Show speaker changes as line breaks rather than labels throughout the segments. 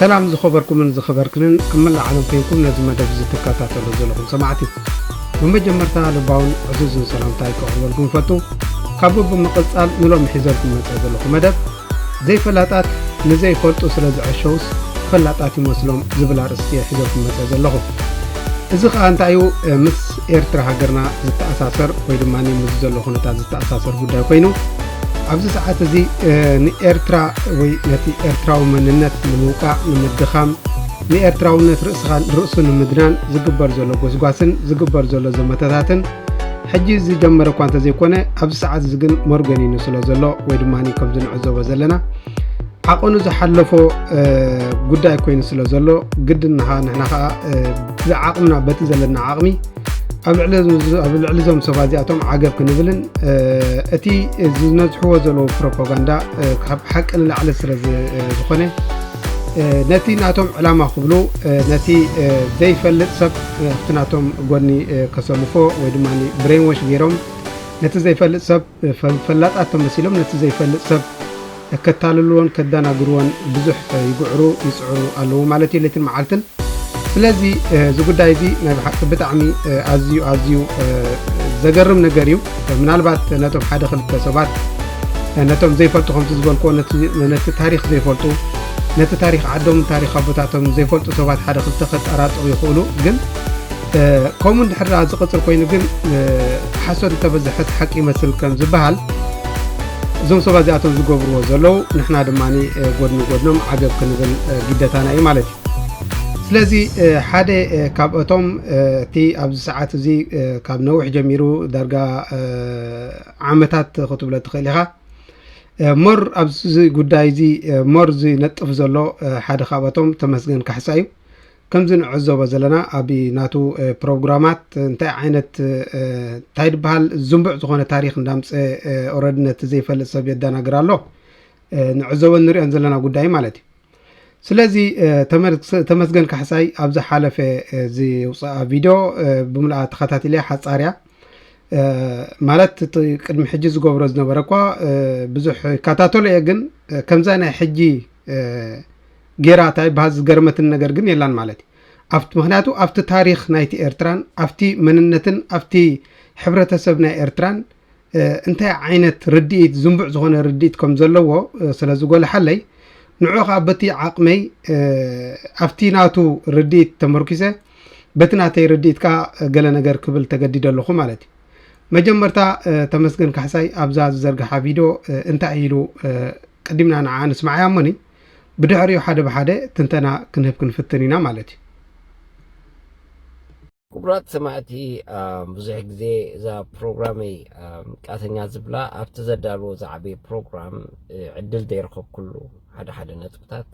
ሰላም ዝኸበርኩምን ዝኸበርክንን ኣብ መላእ ዓለም ኮይንኩም ነዚ መደብ እዚ ትከታተሉ ዘለኹም ሰማዕቲ ብመጀመርታ ልባውን ዕዙዝን ሰላምታይ ከቕርበልኩም ፈቱ ካብኡ ብምቕጻል ንሎሚ ሒዘልኩም መጸ ዘለኹ መደብ ዘይፈላጣት ንዘይፈልጡ ስለ ዝዐሸውስ ፈላጣት ይመስሎም ዝብል ኣርእስቲ እየ ሒዘልኩም መጸ ዘለኹ እዚ ከዓ እንታይ እዩ ምስ ኤርትራ ሃገርና ዝተኣሳሰር ወይ ድማ ምዚ ዘሎ ኩነታት ዝተኣሳሰር ጉዳይ ኮይኑ ኣብዚ ሰዓት እዚ ንኤርትራ ወይ ነቲ ኤርትራዊ መንነት ንምውቃዕ ንምድኻም ንኤርትራውነት ርእስኻ ርእሱ ንምድናን ዝግበር ዘሎ ጎስጓስን ዝግበር ዘሎ ዘመተታትን ሕጂ ዝጀመረ እኳ እንተዘይኮነ ኣብዚ ሰዓት እዚ ግን መርገኒኑ ስለ ዘሎ ወይ ድማ ከምዚ ንዕዘቦ ዘለና ዓቐኑ ዝሓለፎ ጉዳይ ኮይኑ ስለ ዘሎ ግድንኻ ንሕና ከዓ ብዓቕምና በቲ ዘለና ዓቕሚ ኣብ ልዕሊ እዞም ሰባ እዚኣቶም ዓገብ ክንብልን እቲ ዝነዝሕዎ ዘለዉ ፕሮፓጋንዳ ካብ ሓቂ ንላዕሊ ስለ ዝኾነ ነቲ ናቶም ዕላማ ክብሉ ነቲ ዘይፈልጥ ሰብ ኣብቲ ናቶም ጎኒ ከሰልፎ ወይ ድማ ብሬንወሽ ገይሮም ነቲ ዘይፈልጥ ሰብ ፈላጣት ተመሲሎም ነቲ ዘይፈልጥ ሰብ ከታልልዎን ከዳናግርዎን ብዙሕ ይግዕሩ ይጽዕሩ ኣለዉ ማለት እዩ ለትን መዓልትን ስለዚ እዚ ጉዳይ እዚ ናይ ብሓቂ ብጣዕሚ ኣዝዩ ኣዝዩ ዘገርም ነገር እዩ ምናልባት ነቶም ሓደ ክልተ ሰባት ነቶም ዘይፈልጡ ከምቲ ዝበልክዎ ነቲ ታሪክ ዘይፈልጡ ነቲ ታሪክ ዓዶም ታሪክ ኣቦታቶም ዘይፈልጡ ሰባት ሓደ ክልተ ከጠራጥሩ ይኽእሉ ግን ከምኡ እንድሕር ደኣ ዝቕፅል ኮይኑ ግን ሓሶት እንተበዝሐት ሓቂ ይመስል ከም ዝበሃል እዞም ሰባት እዚኣቶም ዝገብርዎ ዘለዉ ንሕና ድማ ጎድኒ ጎድኖም ዓገብ ክንብል ግደታና እዩ ማለት እዩ ስለዚ ሓደ ካብእቶም እቲ ኣብዚ ሰዓት እዚ ካብ ነዊሕ ጀሚሩ ዳርጋ ዓመታት ክትብሎ ትኽእል ኢኻ ሞር ኣብዚ ጉዳይ እዚ ሞር ዝነጥፍ ዘሎ ሓደ ካብኣቶም ተመስገን ካሕሳ እዩ ከምዚ ንዕዘቦ ዘለና ኣብ ናቱ ፕሮግራማት እንታይ ዓይነት እንታይ ድበሃል ዝንቡዕ ዝኾነ ታሪኽ እንዳምፀ ኦረዲ ነቲ ዘይፈልጥ ሰብ የዳናግር ኣሎ ንዕዘቦን ንሪኦን ዘለና ጉዳይ ማለት እዩ ስለዚ ተመስገን ካሕሳይ ኣብ ዝሓለፈ ዝውፅኣ ቪድዮ ብምልኣ ተኸታቲለ ሓፃርያ ማለት እቲ ቅድሚ ሕጂ ዝገብሮ ዝነበረ እኳ ብዙሕ ይከታተሎ እየ ግን ከምዛ ናይ ሕጂ ጌራ እታ ይብሃል ዝገርመትኒ ነገር ግን የላን ማለት እዩ ኣብቲ ምክንያቱ ኣብቲ ታሪክ ናይቲ ኤርትራን ኣብቲ መንነትን ኣብቲ ሕብረተሰብ ናይ ኤርትራን እንታይ ዓይነት ርድኢት ዝንቡዕ ዝኮነ ርድኢት ከም ዘለዎ ስለ ዝጎልሓለይ ንዑ ከዓ በቲ ዓቅመይ ኣብቲ ናቱ ርድኢት ተመርኪሰ በቲ ናተይ ርድኢት ከዓ ገለ ነገር ክብል ተገዲደ ኣለኹ ማለት እዩ መጀመርታ ተመስገን ካሕሳይ ኣብዛ ዝዘርግሓ ቪድዮ እንታይ ኢሉ ቀዲምና ንዓኣ ንስምዓያ እሞኒ ብድሕሪኡ ሓደ ብሓደ ትንተና ክንህብ ክንፍትን ኢና ማለት እዩ።
ክቡራት ሰማዕቲ ብዙሕ ግዜ እዛ ፕሮግራመይ ቃተኛ ዝብላ ኣብቲ ዘዳልዎ ዝዓበየ ፕሮግራም ዕድል ዘይረኸብኩሉ ሓደ ሓደ ነጥብታት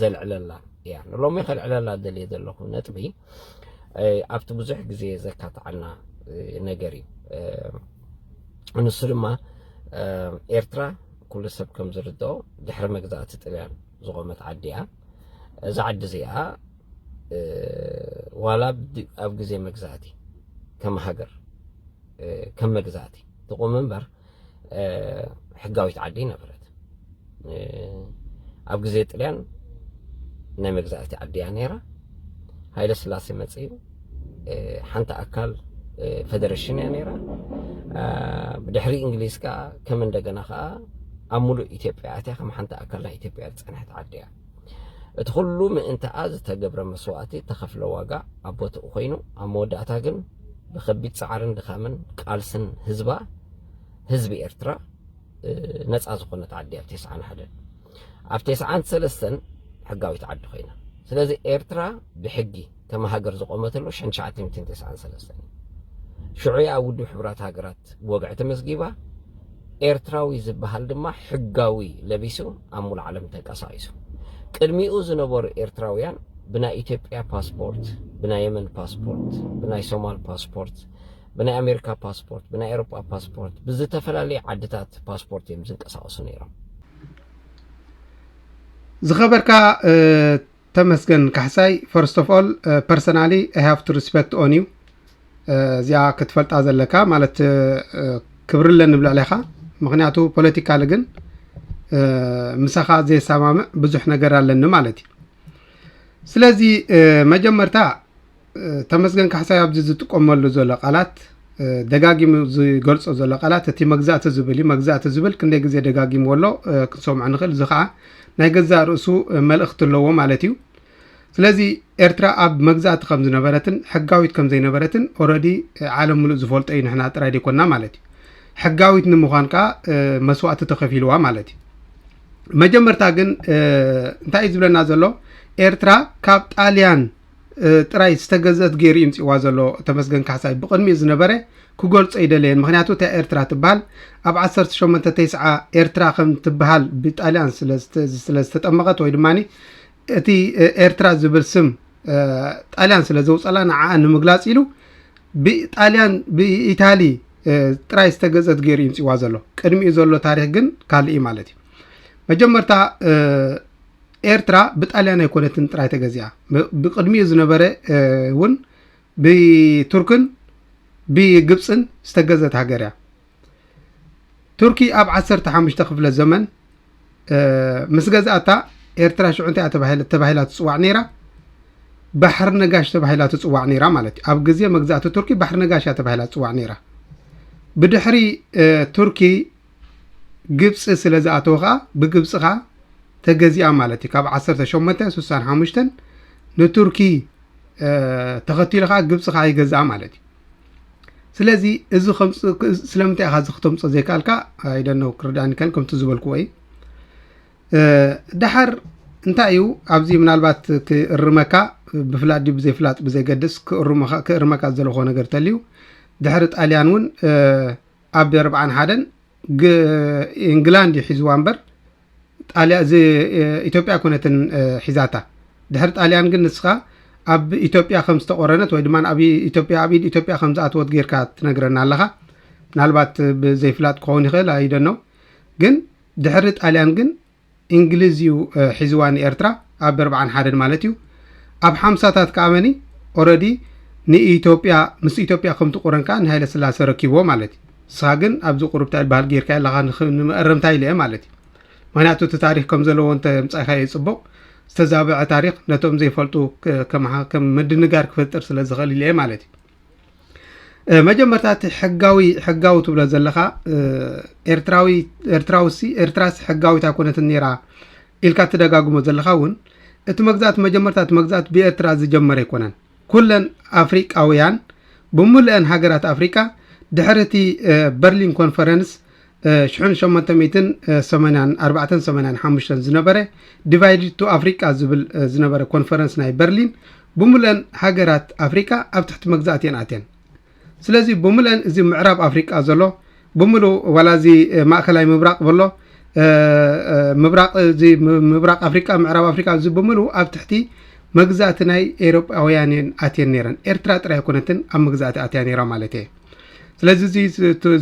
ዘልዕለላ እያ ንሎሚ ከልዕለላ ደልየ ዘለኹ ነጥቢ ኣብቲ ብዙሕ ግዜ ዘካትዓና ነገር እዩ ንሱ ድማ ኤርትራ ኩሉ ሰብ ከም ዝርድኦ ድሕሪ መግዛእቲ ጥልያን ዝቆመት ዓዲ እያ። እዛ ዓዲ እዚኣ ዋላ ኣብ ግዜ መግዛእቲ ከም ሃገር ከም መግዛእቲ ትቁም እምበር ሕጋዊት ዓዲ ነበረት ኣብ ግዜ ጥልያን ናይ መግዛእቲ ዓዲ እያ ነይራ ሃይለ ስላሴ መፅኡ ሓንቲ ኣካል ፈደረሽን እያ ነይራ ብድሕሪ እንግሊዝ ከዓ ከም እንደገና ከዓ ኣብ ሙሉእ ኢትዮጵያ ኣትያ ከም ሓንቲ ኣካል ናይ ኢትዮጵያ ዝፀንሐት ዓዲ እያ እቲ ኩሉ ምእንታኣ ዝተገብረ መስዋእቲ ተኸፍለ ዋጋ ኣብ ቦትኡ ኮይኑ ኣብ መወዳእታ ግን ብከቢድ ጻዕርን ድኻምን ቃልስን ህዝባ ህዝቢ ኤርትራ ነጻ ዝኾነት ዓዲ ኣብ ቴስዓን ሓደን ኣብ ቴስዓን ሰለስተን ሕጋዊት ዓዲ ኮይና ስለዚ ኤርትራ ብሕጊ ከም ሃገር ዝቖመትሉ ሸን ትሽዓተ ሚእትን ተስዓን ሰለስተን እዩ። ሽዑ እያ ኣብ ውድብ ሕቡራት ሃገራት ብወግዒ ተመዝጊባ፣ ኤርትራዊ ዝበሃል ድማ ሕጋዊ ለቢሱ ኣብ ሙሉእ ዓለም ተንቀሳቒሱ። ቅድሚኡ ዝነበሩ ኤርትራውያን ብናይ ኢትዮጵያ ፓስፖርት፣ ብናይ የመን ፓስፖርት፣ ብናይ ሶማል ፓስፖርት፣ ብናይ ኣሜሪካ ፓስፖርት፣ ብናይ ኤሮጳ ፓስፖርት፣ ብዝተፈላለየ ዓድታት ፓስፖርት እዮም ዝንቀሳቐሱ ነይሮም። ዝኸበርካ ተመስገን ካሕሳይ ፈርስት ኦፍ ኦል ፐርሰናሊ ኣይ ሃቭ ቱ ሪስፔክት ኦን ዩ እዚኣ ክትፈልጣ ዘለካ ማለት ክብሪ ኣለኒ ብልዕሌኻ ምክንያቱ ፖለቲካሊ ግን ምሳኻ ዘየሰማምዕ ብዙሕ ነገር ኣለኒ ማለት እዩ
ስለዚ መጀመርታ ተመስገን ካሕሳይ ኣብዚ ዝጥቀመሉ ዘሎ ቃላት ደጋጊሙ ዝገልፆ ዘሎ ቃላት እቲ መግዛእቲ ዝብል እዩ መግዛእቲ ዝብል ክንደይ ግዜ ደጋጊምዎ ኣሎ ክንሰምዖ ንኽእል እዚ ከዓ ናይ ገዛእ ርእሱ መልእኽቲ ኣለዎ ማለት እዩ ስለዚ ኤርትራ ኣብ መግዛእቲ ከም ዝነበረትን ሕጋዊት ከም ዘይነበረትን ኦረዲ ዓለም ምሉእ ዝፈልጦ እዩ ንሕና ጥራይ ዘይኮንና ማለት እዩ ሕጋዊት ንምዃን ከዓ መስዋእቲ ተኸፊልዋ ማለት እዩ መጀመርታ ግን እንታይ እዩ ዝብለና ዘሎ ኤርትራ ካብ ጣልያን ጥራይ ዝተገዝአት ገይሩ እዩ ምፅዋ ዘሎ ተመስገን ካሕሳይ ብቅድሚኡ ዝነበረ ክገልፆ ይደለየን ምክንያቱ እታ ኤርትራ ትበሃል ኣብ 18 ተስዓ ኤርትራ ከም ትበሃል ብጣልያን ስለዝተጠመቐት ወይ ድማ እቲ ኤርትራ ዝብል ስም ጣልያን ስለ ዘውፀላ ንዓኣ ንምግላፅ ኢሉ ብጣልያን ብኢታሊ ጥራይ ዝተገዘት ገይሩ ይምፅዋ ዘሎ ቅድሚኡ ዘሎ ታሪክ ግን ካልእ ማለት እዩ መጀመርታ ኤርትራ ብጣልያን ኣይኮነትን ጥራይ ተገዚኣ ብቅድሚኡ ዝነበረ እውን ብቱርክን ብግብፅን ዝተገዘት ሃገር እያ ቱርኪ ኣብ ዓሰርተ ሓሙሽተ ክፍለ ዘመን ምስ ገዛእታ ኤርትራ ሽዑ እንታይ ተባሂላ ትፅዋዕ ነይራ ባሕሪ ነጋሽ ተባሂላ ትፅዋዕ ነይራ ማለት እዩ ኣብ ግዜ መግዛእቲ ቱርኪ ባሕሪ ነጋሽ እያ ተባሂላ ትፅዋዕ ነይራ ብድሕሪ ቱርኪ ግብፂ ስለ ዝኣተወ ከኣ ብግብፂ ከኣ ተገዚኣ ማለት እዩ ካብ ዓሰርተ ሸሞንተ ስሳን ሓሙሽተን ንቱርኪ ተኸቲሉ ከኣ ግብፂ ከኣ ይገዝኣ ማለት እዩ ስለዚ እዚ ስለምንታይ ኢኻ እዚ ክተምፆ ዘይከኣልካ ኣይደነው ክርዳእኒ ከል ከምቲ ዝበልክዎ እዩ ድሓር እንታይ እዩ ኣብዚ ምናልባት ክእርመካ ብፍላጥ ድዩ ብዘይፍላጥ ብዘይገድስ ክእርመካ ዝዘለኮ ነገር ተልዩ ድሕሪ ጣልያን እውን ኣብ ርብዓን ሓደን ግ ኢንግላንድ እዩ ሒዝዋ እምበር ጣልያ እዚ ኢትዮጵያ ኮነትን ሒዛታ ድሕሪ ጣልያን ግን ንስኻ ኣብ ኢትዮጵያ ከም ዝተቆረነት ወይ ድማ ኣብ ኢትዮጵያ ኣብ ኢድ ኢትዮጵያ ከም ዝኣተወት ጌርካ ትነግረና ኣለኻ ምናልባት ብዘይፍላጥ ክኸውን ይኽእል ኣይደነው ግን ድሕሪ ጣልያን ግን እንግልዝ እዩ ሒዝዋ ንኤርትራ ኣብ ኣርብዓን ሓደን ማለት እዩ ኣብ ሓምሳታት ከኣ መኒ ኦረዲ ንኢትዮጵያ ምስ ኢትዮጵያ ከምቲ ቁረን ከኣ ንሃይለ ስላሰ ረኪብዎ ማለት እዩ ንስኻ ግን ኣብዚ ቁርብ ትዕል ባህል ጌርካ ኣለኻ ንመእረምታ ኢለ እየ ማለት እዩ ምክንያቱ እቲ ታሪክ ከም ዘለዎ እንተ ምጻኢኻዮ ጽቡቕ ዝተዛበዐ ታሪክ ነቶም ዘይፈልጡ ከም ምድንጋር ክፈጥር ስለ ዝኽእል ኢለ እየ ማለት እዩ መጀመርታ እቲ ሕጋዊ ሕጋዊ ትብሎ ዘለኻ ኤርትራዊ ኤርትራውሲ ኤርትራስ ሕጋዊት ኣይኮነትን ነይራ ኢልካ ትደጋግሞ ዘለኻ እውን እቲ መግዛእቲ መጀመርታ እቲ መግዛእቲ ብኤርትራ ዝጀመረ ኣይኮነን ኩለን ኣፍሪቃውያን ብምሉአን ሃገራት ኣፍሪቃ ድሕሪ እቲ በርሊን ኮንፈረንስ ሽሕን ሸሞንተ ሚእትን ሰማንያን ኣርባዕተን ሰማንያን ሓሙሽተን ዝነበረ ዲቫይድድ ቱ ኣፍሪቃ ዝብል ዝነበረ ኮንፈረንስ ናይ በርሊን ብምሉአን ሃገራት ኣፍሪቃ ኣብ ትሕቲ መግዛእቲ እየን ኣትየን ስለዚ ብምሉአን እዚ ምዕራብ ኣፍሪቃ ዘሎ ብምሉ ዋላ እዚ ማእከላይ ምብራቅ በሎ ምብራቅ እዚ ምብራቅ ኣፍሪቃ ምዕራብ ኣፍሪቃ እዚ ብምሉ ኣብ ትሕቲ መግዛእቲ ናይ ኤሮጳውያን እየን ኣትየን ነይረን ኤርትራ ጥራይ ኣይኮነትን ኣብ መግዛእቲ ኣትያ ነይራ ማለት እየ ስለዚ እዚ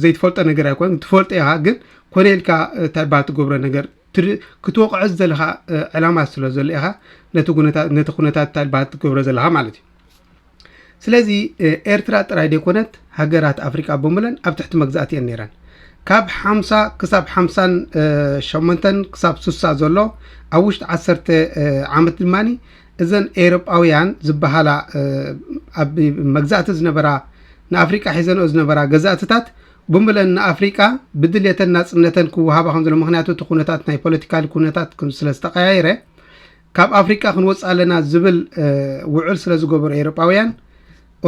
ዘይትፈልጦ ነገር ኣይኮን ትፈልጦ ኢኻ ግን ኮነ ኢልካ እንታይ ባል ትገብሮ ነገር ክትወቕዖ ዘለኻ ዕላማ ስለ ዘሎ ኢኻ ነቲ ኩነታት እንታይ ባል ትገብሮ ዘለኻ ማለት እዩ ስለዚ ኤርትራ ጥራይ ዘይኮነት ሃገራት ኣፍሪቃ ብምለን ኣብ ትሕቲ መግዛእቲ እየን ነይረን ካብ ሓምሳ ክሳብ ሓምሳን ሸሞንተን ክሳብ ስሳ ዘሎ ኣብ ውሽጢ ዓሰርተ ዓመት ድማኒ እዘን ኤሮጳውያን ዝበሃላ ኣብ መግዛእቲ ዝነበራ ንኣፍሪቃ ሒዘንኦ ዝነበራ ገዛእትታት ብሙለን ንኣፍሪቃ ብድልየተን ናጽነተን ክወሃባ ከም ዘሎ ምክንያቱ እቲ ኩነታት ናይ ፖለቲካሊ ኩነታት ስለ ዝተቀያየረ ካብ ኣፍሪቃ ክንወፅ ኣለና ዝብል ውዕል ስለ ዝገበሩ ኤሮጳውያን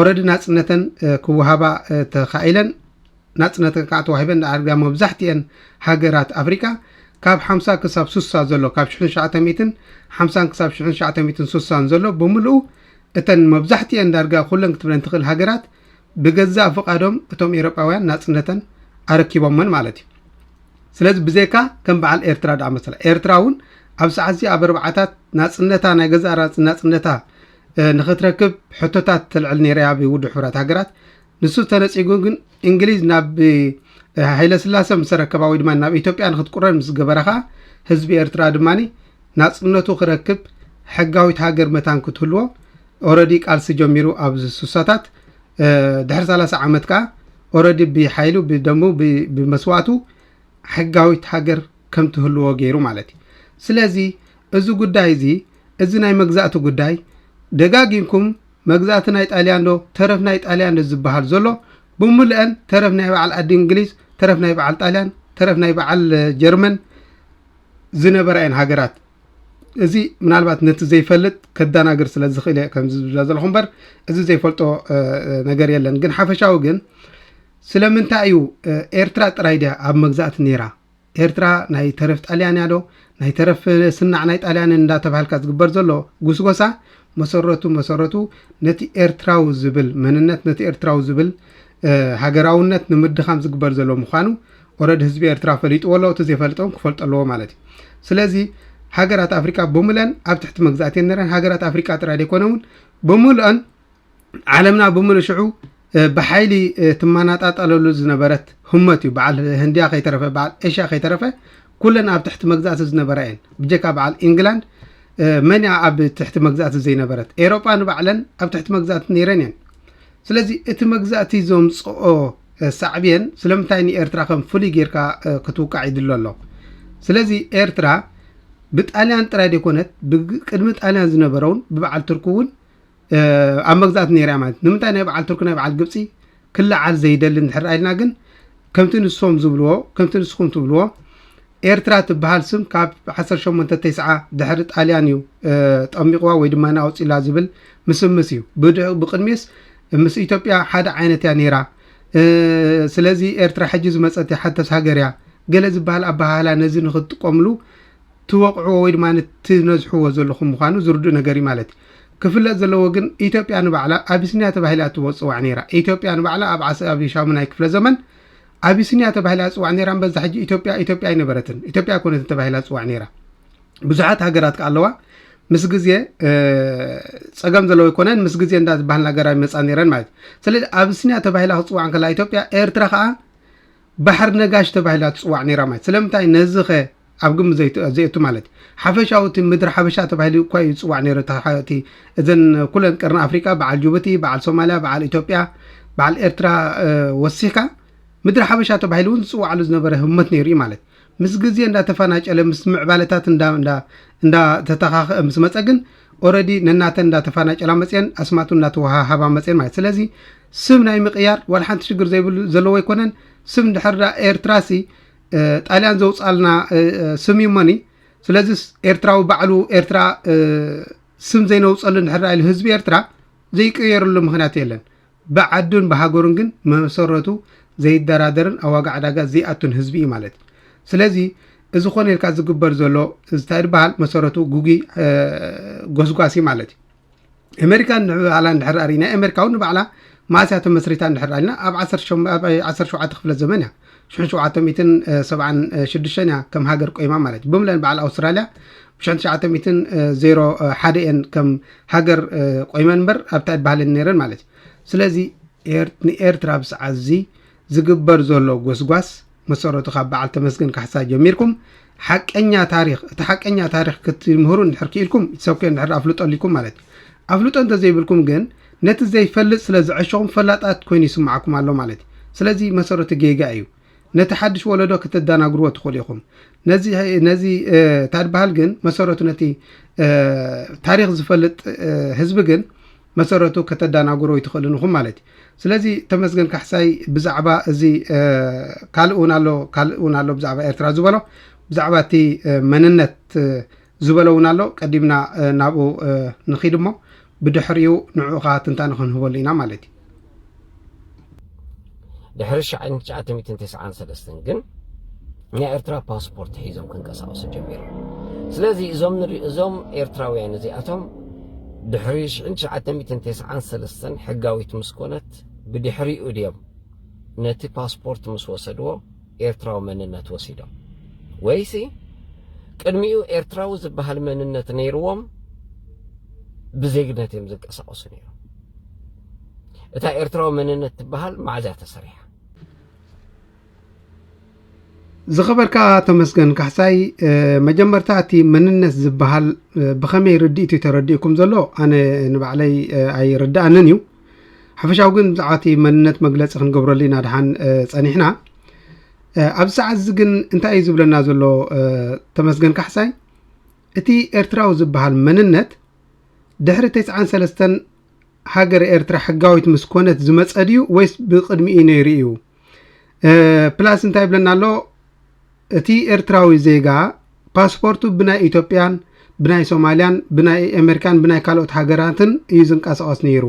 ኦረዲ ናጽነተን ክወሃባ ተኻኢለን ናጽነተን ከኣ ተዋሂበን ደኣር ብ መብዛሕትኤን ሃገራት ኣፍሪቃ ካብ ሓምሳ ክሳብ ሱሳ ዘሎ ካብ ሽሕን ትሽዓተ ሚእትን ሓምሳን ክሳብ ሽሕን ትሽዓተ ሚእትን ሱሳን ዘሎ ብምልኡ እተን መብዛሕትኤን ዳርጋ ኩለን ክትብለን ትኽእል ሃገራት ብገዛእ ፍቓዶም እቶም ኤሮጳውያን ናጽነተን ኣረኪቦመን ማለት እዩ ስለዚ ብዘይካ ከም በዓል ኤርትራ ደኣ መሰላ ኤርትራ እውን ኣብ ሰዓት እዚ ኣብ ኣርባዓታት ናፅነታ ናይ ገዛእ ናፅነታ ንክትረክብ ሕቶታት ተልዕል ነይራ ኣብ ውድብ ሕቡራት ሃገራት ንሱ ተነጺጉ ግን እንግሊዝ ናብ ሃይለስላሰ ምስ ረከባ ወይ ድማ ናብ ኢትዮጵያ ንክትቁረን ምስ ገበረ ከዓ ህዝቢ ኤርትራ ድማ ናጽነቱ ክረክብ ሕጋዊት ሃገር መታን ክትህልዎ ኦረዲ ቃልሲ ጀሚሩ ኣብዚ ስሳታት ድሕሪ 30 ዓመት ከዓ ኦረዲ ብሓይሉ ብደሙ ብመስዋእቱ ሕጋዊት ሃገር ከም ትህልዎ ገይሩ ማለት እዩ ስለዚ እዚ ጉዳይ እዚ እዚ ናይ መግዛእቲ ጉዳይ ደጋጊምኩም መግዛእቲ ናይ ጣልያን ዶ ተረፍ ናይ ጣልያን ዶ ዝብሃል ዘሎ ብሙልኤን ተረፍ ናይ በዓል ኣዲ እንግሊዝ ተረፍ ናይ በዓል ጣልያን ተረፍ ናይ በዓል ጀርመን ዝነበራ እየን ሃገራት እዚ ምናልባት ነቲ ዘይፈልጥ ከዳናግር ስለ ዝኽእል እየ ከምዚ ዝብላ ዘለኹ እምበር እዚ ዘይፈልጦ ነገር የለን ግን ሓፈሻዊ ግን ስለምንታይ እዩ ኤርትራ ጥራይ ድያ ኣብ መግዛእቲ ነይራ ኤርትራ ናይ ተረፍ ጣልያን እያ ዶ? ናይ ተረፍ ስናዕ ናይ ጣልያንን እንዳተባሃልካ ዝግበር ዘሎ ጉስጎሳ መሰረቱ መሰረቱ ነቲ ኤርትራዊ ዝብል መንነት ነቲ ኤርትራዊ ዝብል ሃገራውነት ንምድኻም ዝግበር ዘሎ ምዃኑ ኦረድ ህዝቢ ኤርትራ ፈሊጥዎ ኣሎ እቲ ዘይፈልጦ እውን ክፈልጦ ኣለዎ ማለት እዩ ስለዚ ሃገራት ኣፍሪቃ ብምለን ኣብ ትሕቲ መግዛእቲ ነረን ሃገራት ኣፍሪቃ ጥራይ ዘይኮነ እውን ብምልኦን ዓለምና ብምሉ ሽዑ ብሓይሊ ትመናጣጠለሉ ዝነበረት ህመት እዩ በዓል ህንድያ ከይተረፈ በዓል ኤሽያ ከይተረፈ ኩለን ኣብ ትሕቲ መግዛእቲ ዝነበራ እየን ብጀካ በዓል ኢንግላንድ መን እያ ኣብ ትሕቲ መግዛእቲ ዘይነበረት ኤሮጳ ንባዕለን ኣብ ትሕቲ መግዛእቲ ነይረን እየን ስለዚ እቲ መግዛእቲ ዘምፅኦ ሳዕብየን ስለምንታይ ንኤርትራ ከም ፍሉይ ጌርካ ክትውቃዕ ይድሎ ኣሎ ስለዚ ኤርትራ ብጣልያን ጥራይ ደይኮነት ብቅድሚ ጣልያን ዝነበረውን ብበዓል ትርኪ እውን ኣብ መግዛእት ነይራ እያ ማለት ንምንታይ ናይ በዓል ቱርኪ ናይ በዓል ግብፂ ክለዓል ዘይደሊ እንድሕር ኢልና ግን ከምቲ ንሶም ዝብልዎ ከምቲ ንስኹም ትብልዎ ኤርትራ ትበሃል ስም ካብ 18 ተስዓ ድሕሪ ጣልያን እዩ ጠሚቕዋ ወይ ድማ ኣውፂላ ዝብል ምስምስ እዩ ብቅድሚስ ምስ ኢትዮጵያ ሓደ ዓይነት እያ ነይራ ስለዚ ኤርትራ ሕጂ ዝመፀት ሓተስ ሃገር እያ ገለ ዝበሃል ኣበሃህላ ነዚ ንክትጥቀምሉ ትወቕዕዎ ወይ ድማ ትነዝሕዎ ዘለኹም ምዃኑ ዝርዱእ ነገር እዩ ማለት እዩ። ክፍለጥ ዘለዎ ግን ኢትዮጵያ ንባዕላ ኣቢስንያ ተባሂላ እትወፅዋዕ ነይራ። ኢትዮጵያ ንባዕላ ኣብ ዓስ ኣብ ሻሙናይ ክፍለ ዘመን ኣቢስንያ ተባሂላ እትፅዋዕ ነይራ እምበር እዛ ሕጂ ኢትዮጵያ ኢትዮጵያ ኣይነበረትን። ኢትዮጵያ ኣይኮነትን ተባሂላ እትፅዋዕ ነይራ። ብዙሓት ሃገራት ከዓ ኣለዋ ምስ ግዜ ፀገም ዘለዎ ይኮነን ምስ ግዜ እንዳ ዝበሃል ነገራት ይመፃ ነይረን ማለት እዩ ስለዚ ኣብስንያ ተባሂላ ክፅዋዕ ከላ ኢትዮጵያ ኤርትራ ከዓ ባሕር ነጋሽ ተባሂላ ትፅዋዕ ነይራ ማለት ስለምንታይ ነዚ ኸ ኣብ ግምት ዘይት ዘየቱ ማለት ሓፈሻዊ እቲ ምድሪ ሓበሻ ተባሂሉ እኳ እዩ ዝፅዋዕ ነይሩ እቲ ሓ- እቲ እዘን ኩለን ቀርኒ ኣፍሪቃ በዓል ጅቡቲ በዓል ሶማልያ በዓል ኢትዮጵያ በዓል ኤርትራ እ፣ ወሲኽካ ምድሪ ሓበሻ ተባሂሉ እውን ዝፅዋዓሉ ዝነበረ ህሞት ነይሩ እዩ ማለት ምስ ግዜ እንዳተፈናጨለ ምስ ምዕባለታት እንዳ እንዳ እንዳተተኻኸ ምስ መፀ ግን ኦረዲ ነናተን እንዳተፈናጨላ መፅየን ኣስማት እውን እንዳተወሃሃባ መፅየን ማለት ስለዚ ስም ናይ ምቅያር ዋላ ሓንቲ ሽግር ዘይብሉ ዘለዎ ኣይኮነን ስም እንድሕር ዳ ኤርትራሲ ጣልያን ዘውፃልና ስም እዩ መኒ ስለዚ ኤርትራዊ ባዕሉ ኤርትራ ስም ዘይነውፀሉ እንድሕር ኢሉ ህዝቢ ኤርትራ ዘይቀየርሉ ምክንያት የለን ብዓዱን ብሃገሩን ግን መሰረቱ ዘይደራደርን ኣብ ዋጋ ዕዳጋ ዘይኣቱን ህዝቢ እዩ ማለት እዩ ስለዚ እዚ ኮነ ኢልካ ዝግበር ዘሎ እንታይ ዝበሃል መሰረቱ ጉጉይ ጎስጓሲ ማለት እዩ ኣመሪካን ንባዕላ እንድሕር ኣሪና ኣመሪካውን ንባዕላ መዓስ እያ ተመስሪታ እንድሕር ኣልና ኣብ 17 ክፍለ ዘመን እያ ሽሕን ሸውዓተ ሚትን ሰብዓን ሽዱሽተን እያ ከም ሃገር ቆይማ ማለት እዩ ብምለን በዓል ኣውስትራልያ ብሽሕን ትሽዓተ ሚትን ዜሮ ሓደ እየን ከም ሃገር ቆይመን እምበር ኣብታ ይበሃለን ነይረን ማለት እዩ ስለዚ ንኤርትራ ብሰዓት እዚ ዝግበር ዘሎ ጎስጓስ መሰረቱ ካብ በዓል ተመስገን ካሕሳ ጀሚርኩም ሓቀኛ ታሪኽ እቲ ሓቀኛ ታሪኽ ክትምህሩ እንድሕር ክኢልኩም ይትሰብከ እንድሕር ኣፍልጦ ኣሊኩም ማለት እዩ ኣፍልጦ እንተዘይብልኩም ግን ነቲ ዘይፈልጥ ስለ ዝዐሸኹም ፈላጣት ኮይኑ ይስምዓኩም ኣሎ ማለት እዩ ስለዚ መሰረቱ ጌጋ እዩ ነቲ ሓድሽ ወለዶ ከተደናግርዎ ትኽእሉ ኢኹም ነዚ ነዚ ታድበሃል ግን መሰረቱ ነቲ ታሪኽ ዝፈልጥ ህዝቢ ግን መሰረቱ ከተዳናግሩ ኣይትኽእልን ኢኹም ማለት እዩ። ስለዚ ተመስገን ካሕሳይ ብዛዕባ እዚ ካልእ እውን ኣሎ ካልእ እውን ኣሎ ብዛዕባ ኤርትራ ዝበሎ ብዛዕባ እቲ መንነት ዝበሎ እውን ኣሎ ቀዲምና ናብኡ ንኺድ እሞ ብድሕሪኡ ንዕኡ ኸዓ ትንታነ ክንህበሉ ኢና ማለት እዩ።
ድሕሪ ሽሕ ትሽዓተ ሚእትን ተስዓን ሰለስተን ግን ናይ ኤርትራ ፓስፖርት ሒዞም ክንቀሳቀሱ ጀሚሮም ስለዚ እዞም ንሪኦ እዞም ኤርትራውያን እዚኣቶም ድሕሪ ሽሕ ትሽዓተ ሚእትን ተስዓን ሰለስተን ሕጋዊት ምስ ኮነት ብድሕሪኡ ድዮም ነቲ ፓስፖርት ምስ ወሰድዎ ኤርትራዊ መንነት ወሲዶም ወይሲ ቅድሚኡ ኤርትራዊ ዝበሃል መንነት ነይርዎም ብዜግነት እዮም ዝንቀሳቀሱ ነይሮም እታ ኤርትራዊ መንነት ትበሃል መዓዝ እያ ተሰሪሓ?
ዝኸበርካ ተመስገን ካሕሳይ መጀመርታ እቲ መንነት ዝበሃል ብኸመይ ርድኢት እዩ ተረዲኡኩም ዘሎ ኣነ ንባዕለይ ኣይርድኣንን እዩ ሓፈሻዊ ግን ብዛዕባ እቲ መንነት መግለፂ ክንገብረሉ ኢና ድሓን ፀኒሕና ኣብ ሰዓት እዚ ግን እንታይ እዩ ዝብለና ዘሎ ተመስገን ካሕሳይ እቲ ኤርትራዊ ዝበሃል መንነት ድሕሪ 93 ሃገረ ኤርትራ ሕጋዊት ምስ ኮነት ዝመጸ ድዩ ወይስ ብቕድሚኡ ነይሩ እዩ? ፕላስ እንታይ ይብለና ኣሎ እቲ ኤርትራዊ ዜጋ ፓስፖርቱ ብናይ ኢትዮጵያን ብናይ ሶማልያን ብናይ ኣሜሪካን ብናይ ካልኦት ሃገራትን እዩ ዝንቀሳቐስ ነይሩ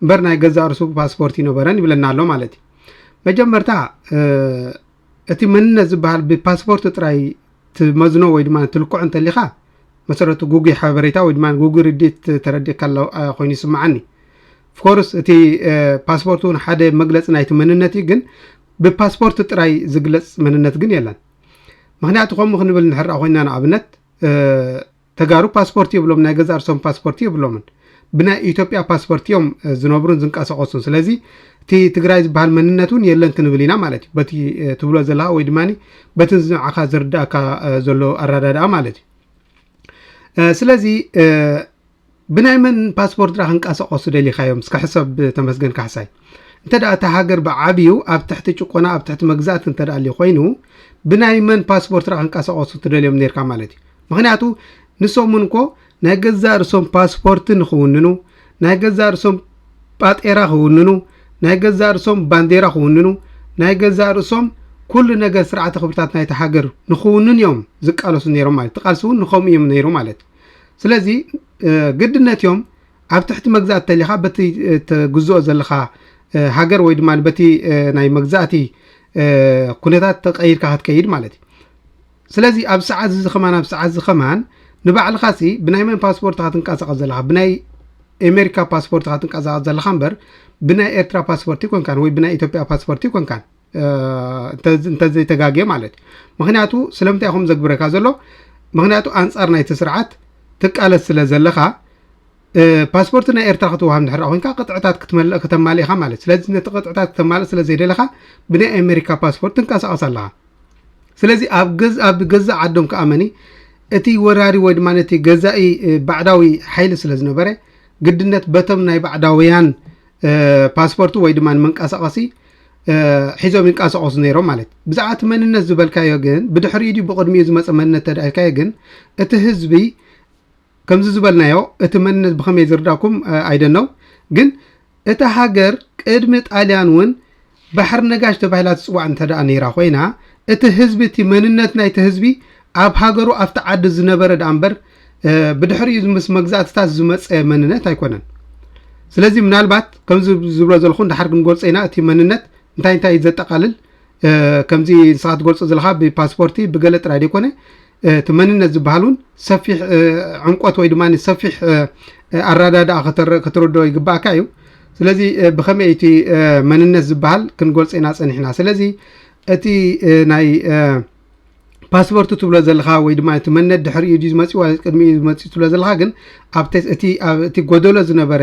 እምበር ናይ ገዛ ርሱ ፓስፖርት ይነበረን ይብለና ኣሎ ማለት እዩ መጀመርታ እቲ መንነት ዝበሃል ብፓስፖርት ጥራይ ትመዝኖ ወይ ድማ ትልክዖ እንተሊኻ መሰረቱ ጉጉይ ሓበሬታ ወይ ድማ ጉጉይ ርዲት ተረዲእካ ኣሎ ኮይኑ ይስምዓኒ ፍኮርስ እቲ ፓስፖርት እውን ሓደ መግለፂ ናይቲ መንነት እዩ ግን ብፓስፖርት ጥራይ ዝግለፅ መንነት ግን የለን ምክንያቱ ከምኡ ክንብል ንሕራ ኮይና ንኣብነት ተጋሩ ፓስፖርት የብሎም ናይ ገዛእ ርሶም ፓስፖርት የብሎምን ብናይ ኢትዮጵያ ፓስፖርት እዮም ዝነብሩን ዝንቀሳቀሱን ስለዚ እቲ ትግራይ ዝበሃል መንነት እውን የለን ክንብል ኢና ማለት እዩ በቲ ትብሎ ዘለካ ወይ ድማ በቲ ንዓካ ዝርዳእካ ዘሎ ኣረዳድኣ ማለት እዩ ስለዚ ብናይ መን ፓስፖርት ድኣ ክንቃሳቀሱ ደሊካዮም እስከ ሕሰብ ተመስገን ካሕሳይ እንተ እታ ሃገር ብዓብዩ ኣብ ትሕቲ ጭቆና ኣብ ትሕቲ መግዛእቲ እንተ ኣልዩ ኮይኑ ብናይ መን ፓስፖርት ድኣ ክንቃሳቀሱ ትደልዮም ነርካ ማለት እዩ ምክንያቱ ንሶም እውን እኮ ናይ ገዛእ ርሶም ፓስፖርት ንክውንኑ ናይ ገዛእ ርሶም ጳጤራ ክውንኑ ናይ ገዛእ ርሶም ባንዴራ ክውንኑ ናይ ገዛእ ርእሶም ኩሉ ነገር ስርዓተ ክብርታት ናይቲ ሃገር ንክውንን እዮም ዝቃለሱ ነይሮም ማለት ተቃልሲ እውን ንከምኡ እዮም ነይሩ ማለት ስለዚ ግድነት እዮም ኣብ ትሕቲ መግዛእቲ ተሊኻ በቲ ትግዝኦ ዘለኻ ሃገር ወይ ድማ በቲ ናይ መግዛእቲ ኩነታት ተቀይርካ ክትከይድ ማለት እዩ ስለዚ ኣብ ሰዓት እዚ ከማን ኣብ ሰዓት እዚ ከማን ንባዕልኻ ሲ ብናይ መን ፓስፖርት ኢኻ ትንቀሳቐስ ዘለኻ ብናይ ኤሜሪካ ፓስፖርት ኢኻ ትንቀሳቐስ ዘለኻ እምበር ብናይ ኤርትራ ፓስፖርት ይኮንካን ወይ ብናይ ኢትዮጵያ ፓስፖርት ይኮንካን እንተዘይተጋጌ ማለት እዩ ምክንያቱ ስለምንታይ ኹም ዘግብረካ ዘሎ ምክንያቱ ኣንፃር ናይቲ ስርዓት ትቃለስ ስለ ዘለካ ፓስፖርት ናይ ኤርትራ ክትወሃብ ንድሕር ኮንካ ቅጥዕታት ክትመልእ ከተማልእኻ ማለት ስለዚ ነቲ ቅጥዕታት ክተማልእ ስለ ዘይደለኻ ብናይ ኣሜሪካ ፓስፖርት ትንቀሳቐስ ኣለኻ ስለዚ ኣብ ገዛእ ዓዶም ከዓ መኒ እቲ ወራሪ ወይ ድማ ነቲ ገዛኢ ባዕዳዊ ሓይሊ ስለ ዝነበረ ግድነት በቶም ናይ ባዕዳውያን ፓስፖርት ወይ ድማ መንቀሳቐሲ ሒዞም ይንቀሳቐሱ ነይሮም ማለት እዩ ብዛዕባ እቲ መንነት ዝበልካዮ ግን ብድሕሪኡ ድዩ ብቕድሚኡ ዝመፀ መንነት ተዳኢልካዮ ግን እቲ ህዝቢ ከምዚ ዝበልናዮ እቲ መንነት ብኸመይ ዝርዳኩም ኣይደነው ግን እታ ሃገር ቅድሚ ጣልያን እውን ባሕሪ ነጋሽ ተባሂላ ትጽዋዕ እንተደኣ ነይራ ኮይና፣ እቲ ህዝቢ እቲ መንነት ናይቲ ህዝቢ ኣብ ሃገሩ ኣብቲ ዓዲ ዝነበረ ደኣ እምበር ብድሕሪኡ ምስ መግዛእትታት ዝመጸ መንነት ኣይኮነን። ስለዚ ምናልባት ከምዚ ዝብሎ ዘለኹ ንደሓር ክንገልጾ ኢና እቲ መንነት እንታይ እንታይ ዘጠቓልል ከምዚ ንስኻ ትገልጾ ዘለኻ ብፓስፖርቲ ብገለ ጥራይ ዘይኮነ እቲ መንነት ዝበሃል እውን ሰፊሕ ዕምቆት ወይ ድማ ሰፊሕ ኣረዳድኣ ክትርድኦ ይግባእካ እዩ ስለዚ ብከመይ እቲ መንነት ዝበሃል ክንገልፆ ኢና ፀኒሕና ስለዚ እቲ ናይ ፓስፖርት ትብሎ ዘለካ ወይ ድማ እቲ መንነት ድሕሪ እዩ ዝመፅኡ ቅድሚ እዩ ዝመፅኡ ትብሎ ዘለካ ግን እቲ ጎደሎ ዝነበረ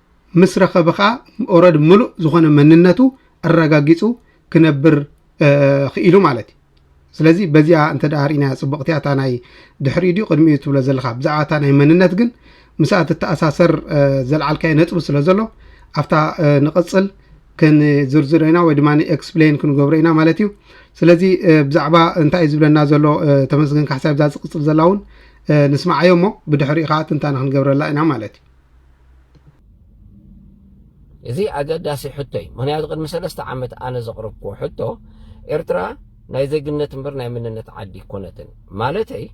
ምስ ረኸበ ከኣ ኦረዲ ምሉእ ዝኾነ መንነቱ ኣረጋጊጹ ክነብር ክኢሉ ማለት እዩ ስለዚ በዚኣ እንተ ርኢናያ ፅቡቕቲ እታ ናይ ድሕሪኡ ድዩ ቅድሚኡ ትብሎ ዘለካ ብዛዕባ እታ ናይ መንነት ግን ምስኣ ትተኣሳሰር ዘልዓልካዮ ነጥቢ ስለ ዘሎ ኣብታ ንቕፅል ክንዝርዝሮ ኢና ወይ ድማ ኤክስፕሌን ክንገብሮ ኢና ማለት እዩ ስለዚ ብዛዕባ እንታይ እዩ ዝብለና ዘሎ ተመስገን ካሕሳይ ብዛ ዝቕፅል ዘላ እውን ንስማዓዮ እሞ ብድሕሪኡ ከዓ ትንታነ ክንገብረላ ኢና ማለት እዩ እዚ ኣገዳሲ
ሕቶ እዩ ምክንያቱ ቅድሚ ሰለስተ ዓመት ኣነ ዘቕረብክዎ ሕቶ ኤርትራ ናይ ዜግነት እምበር ናይ መንነት ዓዲ ኮነትን ማለተይ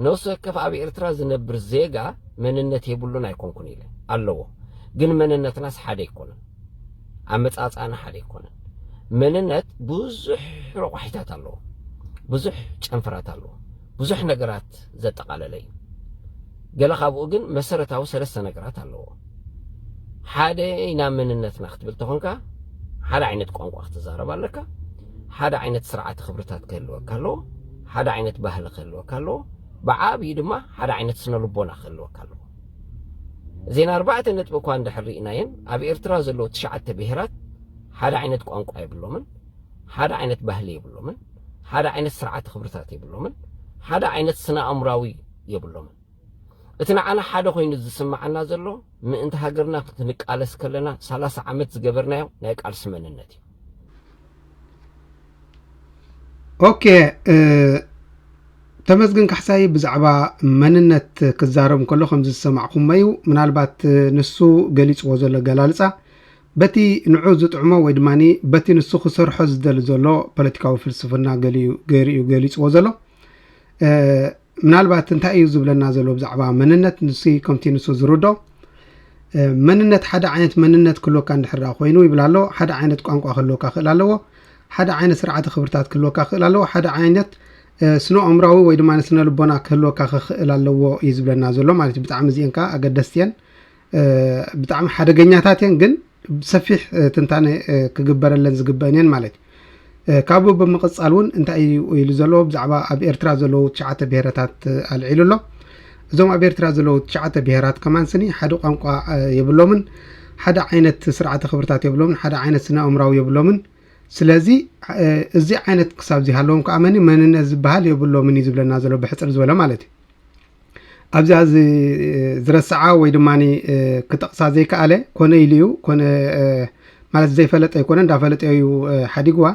ነፍሲ ወከፍ ኣብ ኤርትራ ዝነብር ዜጋ መንነት የብሉን ኣይኮንኩን ኢለ ኣለዎ ግን መንነትናስ ሓደ ኣይኮነን ኣመጻጽኣና ሓደ ኣይኮነን መንነት ብዙሕ ረቋሒታት ኣለዎ ብዙሕ ጨንፈራት ኣለዎ ብዙሕ ነገራት ዘጠቓለለ እዩ። ገለ ካብኡ ግን መሰረታዊ ሰለስተ ነገራት ኣለዎ። ሓደ ኢና መንነትና ክትብል ተኾንካ ሓደ ዓይነት ቋንቋ ክትዛረብ ኣለካ፣ ሓደ ዓይነት ስርዓተ ክብርታት ክህልወካ ኣለዎ፣ ሓደ ዓይነት ባህሊ ክህልወካ ኣለዎ፣ ብዓብዩ ድማ ሓደ ዓይነት ስነ ልቦና ክህልወካ ኣለዎ። እዘን ኣርባዕተ ነጥቢ እኳ እንድሕር ርኢናየን ኣብ ኤርትራ ዘለዉ ትሽዓተ ብሄራት ሓደ ዓይነት ቋንቋ የብሎምን፣ ሓደ ዓይነት ባህሊ የብሎምን። ሓደ ዓይነት ስርዓተ ክብርታት የብሎምን፣ ሓደ ዓይነት ስነ ኣእምራዊ የብሎምን። እቲ ንዓና ሓደ ኮይኑ ዝስምዓና ዘሎ ምእንቲ ሃገርና ክንቃለስ ከለና ሰላሳ ዓመት ዝገበርናዮ ናይ ቃልሲ መንነት እዩ።
ኦኬ ተመስግን ካሕሳይ ብዛዕባ መንነት ክዛረብ እንከሎ ከምዚ ዝሰማዕኩሞዩ ምናልባት ንሱ ገሊጽዎ ዘሎ ኣገላልጻ በቲ ንዑ ዝጥዕሞ ወይ ድማ በቲ ንሱ ክሰርሖ ዝደሊ ዘሎ ፖለቲካዊ ፍልስፍና ገሊኡ ገይሩ'ዩ ገሊጽዎ ዘሎ። ምናልባት እንታይ እዩ ዝብለና ዘሎ ብዛዕባ መንነት ንሱ ከምቲ ንሱ ዝርዶ መንነት ሓደ ዓይነት መንነት ክህልወካ እንድሕር ኮይኑ ይብል ኣሎ ሓደ ዓይነት ቋንቋ ክህልወካ ክእል ኣለዎ ሓደ ዓይነት ስርዓተ ክብርታት ክህልወካ ክእል ኣለዎ ሓደ ዓይነት ስነ ኣእምራዊ ወይ ድማ ስነ ልቦና ክህልወካ ክኽእል ኣለዎ እዩ ዝብለና ዘሎ ማለት እዩ ብጣዕሚ እዚአን ከዓ ኣገደስቲ እየን ብጣዕሚ ሓደገኛታት እየን ግን ሰፊሕ ትንታነ ክግበረለን ዝግበእን እየን ማለት እዩ ካብኡ ብምቕፃል እውን እንታይ እዩ ኢሉ ዘለዎ ብዛዕባ ኣብ ኤርትራ ዘለዉ ትሽዓተ ብሄረታት ኣልዒሉ ኣሎ እዞም ኣብ ኤርትራ ዘለዉ ትሽዓተ ብሄራት ከማን ስኒ ሓደ ቋንቋ የብሎምን ሓደ ዓይነት ስርዓተ ክብርታት የብሎምን ሓደ ዓይነት ስነ ኣእምራዊ የብሎምን ስለዚ እዚ ዓይነት ክሳብ ዝሃለዎም ከኣመኒ መንነት ዝበሃል የብሎምን እዩ ዝብለና ዘሎ ብሕፅር ዝበለ ማለት እዩ ኣብዚኣ ዝረስዓ ወይ ድማ ክጠቕሳ ዘይከኣለ ኮነ ኢሉ እዩ ኮነ ማለት ዘይፈለጠ ኣይኮነ እንዳፈለጠ እዩ ሓዲግዋ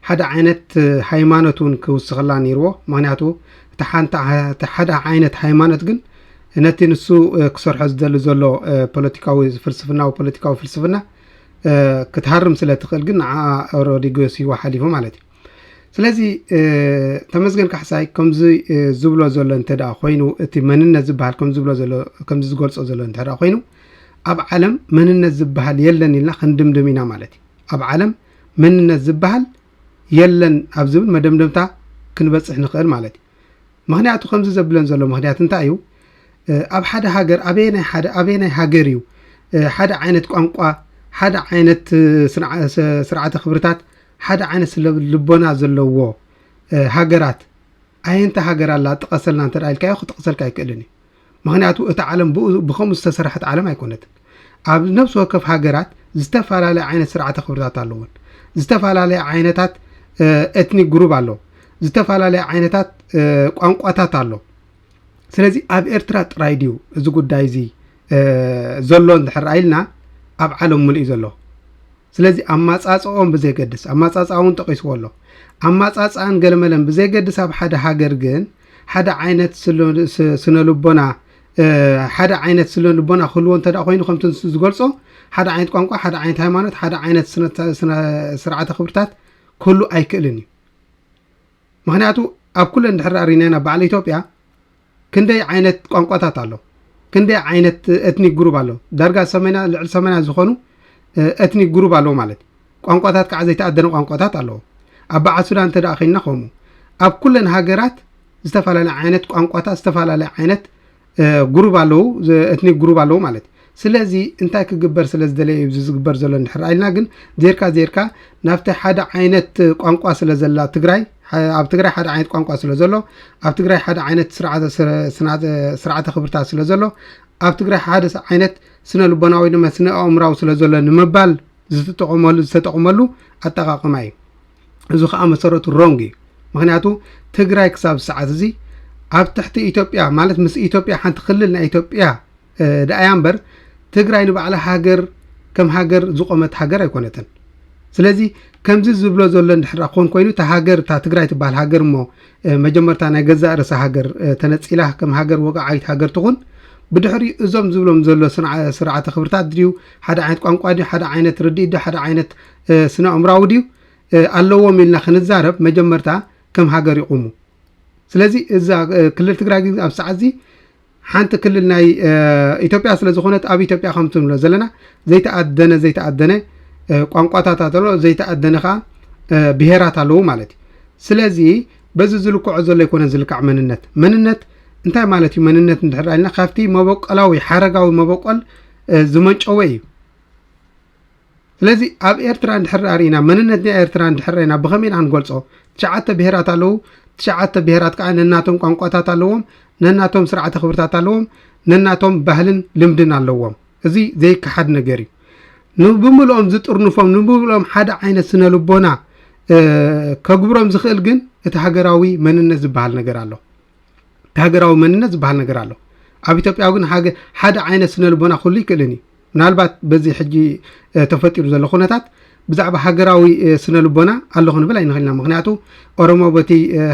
ሓደ ዓይነት ሃይማኖት እውን ክውስኸላ ነይርዎ ምክንያቱ እቲ ሓንቲ ሓደ ዓይነት ሃይማኖት ግን ነቲ ንሱ ክሰርሖ ዝደሊ ዘሎ ፖለቲካዊ ፍልስፍናዊ ፖለቲካዊ ፍልስፍና ክትሃርም ስለ ትኽእል ግን ንዓ ሮዲጎ ስዋ ሓሊፉ ማለት እዩ ስለዚ ተመስገን ካሕሳይ ከምዚ ዝብሎ ዘሎ እንተ ኮይኑ እቲ መንነት ዝበሃል ከምዚ ዝብሎ ዘሎ ከምዚ ዝገልጾ ዘሎ እንተ ኮይኑ ኣብ ዓለም መንነት ዝበሃል የለን ኢልና ክንድምድም ኢና ማለት እዩ ኣብ ዓለም መንነት ዝበሃል የለን ኣብ ዝብል መደምደምታ ክንበፅሕ ንኽእል ማለት እዩ ምክንያቱ ከምዚ ዘብለን ዘሎ ምክንያት እንታይ እዩ ኣብ ሓደ ሃገር ኣበየ ናይ ሓደ ኣበየ ናይ ሃገር እዩ ሓደ ዓይነት ቋንቋ ሓደ ዓይነት ስርዓተ ክብርታት ሓደ ዓይነት ስለ ልቦና ዘለዎ ሃገራት ኣየንታ ሃገር ኣላ ጥቀሰልና እንተ ኢልካዮ ክጥቕሰልካ ኣይክእልን እዩ ምክንያቱ እቲ ዓለም ብከምኡ ዝተሰራሐት ዓለም ኣይኮነትን ኣብ ነብሲ ወከፍ ሃገራት ዝተፈላለየ ዓይነት ስርዓተ ክብርታት ኣለዎን ዝተፈላለየ ዓይነታት ኤትኒክ ግሩብ ኣሎ ዝተፈላለየ ዓይነታት ቋንቋታት ኣሎ ስለዚ ኣብ ኤርትራ ጥራይ ድዩ እዚ ጉዳይ እዚ ዘሎ እንድሕር ኢልና ኣብ ዓለም ሙሉእ እዩ ዘሎ ስለዚ ኣማጻጽኦም ብዘይገድስ ኣማጻጽኣ እውን ጠቒስዎ ኣሎ ኣማጻጽኣን ገለመለን ብዘይገድስ ኣብ ሓደ ሃገር ግን ሓደ ዓይነት ስነ ልቦና ሓደ ዓይነት ስነ ልቦና ክህልዎ እንተ ኮይኑ ከምቲ ንሱ ዝገልጾ ሓደ ዓይነት ቋንቋ ሓደ ዓይነት ሃይማኖት ሓደ ዓይነት ስርዓተ ክብርታት ክህሉ ኣይክእልን እዩ ምክንያቱ ኣብ ኩለን ድሕሪ ኣሪናና በዓል ኢትዮጵያ ክንደይ ዓይነት ቋንቋታት ኣሎ ክንደይ ዓይነት ኤትኒክ ግሩብ ኣሎ ዳርጋ ሰመና ልዕሊ ሰመና ዝኾኑ ኤትኒክ ግሩብ ኣለዎ ማለት እዩ ቋንቋታት ከዓ ዘይተኣደነ ቋንቋታት ኣለዎ ኣብ በዓል ሱዳን እንተ ኮይንና ከምኡ ኣብ ኩለን ሃገራት ዝተፈላለየ ዓይነት ቋንቋታት ዝተፈላለየ ዓይነት ግሩብ ኣለዉ ኤትኒክ ግሩብ ኣለዉ ማለት እዩ ስለዚ እንታይ ክግበር ስለ ዝደለየ እዩ እዚ ዝግበር ዘሎ እንድሕር ኢልና ግን ዜርካ ዜርካ ናብቲ ሓደ ዓይነት ቋንቋ ስለ ዘላ ትግራይ ኣብ ትግራይ ሓደ ዓይነት ቋንቋ ስለ ዘሎ ኣብ ትግራይ ሓደ ዓይነት ስርዓተ ስረ- ስና- ስርዓተ ክብርታት ስለ ዘሎ ኣብ ትግራይ ሓደ ስ- ዓይነት ስነ ልቦናዊ ድማ ስነ ኣእምራዊ ስለ ዘሎ ንምባል ዝተጠቐመሉ ዝተጠቕመሉ ኣጠቃቕማ እዩ እዚ ከዓ መሰረቱ ሮንግ እዩ ምክንያቱ ትግራይ ክሳብ ሰዓት እዚ ኣብ ትሕቲ ኢትዮጵያ ማለት ምስ ኢትዮጵያ ሓንቲ ክልል ናይ ኢትዮጵያ ደኣያ እምበር ትግራይ ንባዕላ ሃገር ከም ሃገር ዝቆመት ሃገር ኣይኮነትን። ስለዚ ከምዚ ዝብሎ ዘሎ እንድሕር ክኾን ኮይኑ እታ ሃገር እታ ትግራይ ትበሃል ሃገር እሞ መጀመርታ ናይ ገዛእ ርእሳ ሃገር ተነፂላ ከም ሃገር ወግዓዊት ሃገር ትኹን ብድሕሪ እዞም ዝብሎም ዘሎ ስርዓተ ክብርታት ድዩ ሓደ ዓይነት ቋንቋ ድዩ ሓደ ዓይነት ርድኢት ድዩ ሓደ ዓይነት ስነ ኣእምራዊ ድዩ ኣለዎም ኢልና ክንዛረብ መጀመርታ ከም ሃገር ይቑሙ ስለዚ እዛ ክልል ትግራይ ግን ኣብ ሰዓት እዚ ሓንቲ ክልል ናይ ኢትዮጵያ ስለ ዝኾነት ኣብ ኢትዮጵያ ከምቲ ንብሎ ዘለና ዘይተኣደነ ዘይተኣደነ ቋንቋታት ኣሎ ዘይተኣደነ ከዓ ብሄራት ኣለዉ ማለት እዩ ስለዚ በዚ ዝልክዖ ዘሎ ኣይኮነን ዝልካዕ መንነት መንነት እንታይ ማለት እዩ መንነት እንድሕር ኢልና ካብቲ መበቆላዊ ሓረጋዊ መበቆል ዝመንጨወ እዩ ስለዚ ኣብ ኤርትራ እንድሕር ኣርኢና መንነትና ኤርትራ እንድሕር ርኢና ብኸመይ ኢና ክንገልጾ? ትሽዓተ ብሄራት ኣለዉ። ትሽዓተ ብሄራት ከኣ ነናቶም ቋንቋታት ኣለዎም፣ ነናቶም ስርዓተ ክብርታት ኣለዎም፣ ነናቶም ባህልን ልምድን ኣለዎም። እዚ ዘይከሓድ ነገር እዩ። ንብምልኦም ዝጥርንፎም ንብምልኦም ሓደ ዓይነት ስነ ልቦና ከግብሮም ዝኽእል ግን እቲ ሃገራዊ መንነት ዝበሃል ነገር ኣሎ እቲ ሃገራዊ መንነት ዝበሃል ነገር ኣሎ ኣብ ኢትዮጵያ ግን ሓደ ዓይነት ስነ ልቦና ክህሉ ይክእልን እዩ ምናልባት በዚ ሕጂ ተፈጢሩ ዘሎ ኩነታት ብዛዕባ ሃገራዊ ስነ ልቦና ኣሎ ክንብል ኣይንኽእልና ምክንያቱ ኦሮሞ በቲ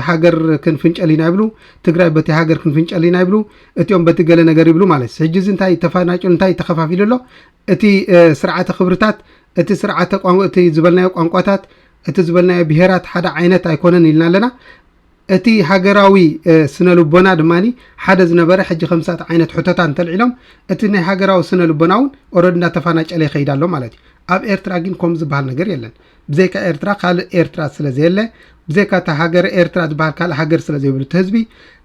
ሃገር ክንፍንጨል ኢና ይብሉ ትግራይ በቲ ሃገር ክንፍንጨል ኢና ይብሉ እቲኦም በቲ ገለ ነገር ይብሉ ማለት እዩ ሕጂ እዚ እንታይ ተፋናጭሉ እንታይ ተኸፋፊሉ ኣሎ እቲ ስርዓተ ክብርታት እቲ ስርዓተ እቲ ዝበልናዮ ቋንቋታት እቲ ዝበልናዮ ብሄራት ሓደ ዓይነት ኣይኮነን ኢልና ኣለና እቲ ሃገራዊ ስነ-ልቦና ድማ ሓደ ዝነበረ ሕጂ ከምሳት ዓይነት ሕቶታት እንተልዒሎም እቲ ናይ ሃገራዊ ስነ-ልቦና ውን ኦረዲ እንዳተፋናጨለ ይኸይድ ኣሎ ማለት እዩ። ኣብ ኤርትራ ጊን ኮምኡ ዝባሃል ነገር የለን። ብዘይካ ኤርትራ ካልእ ኤርትራ ስለ ዘየለ ብዘይካ እታ ሃገረ ኤርትራ ዝባሃል ካልእ ሃገር ስለ ዘይብሉ እቲ ህዝቢ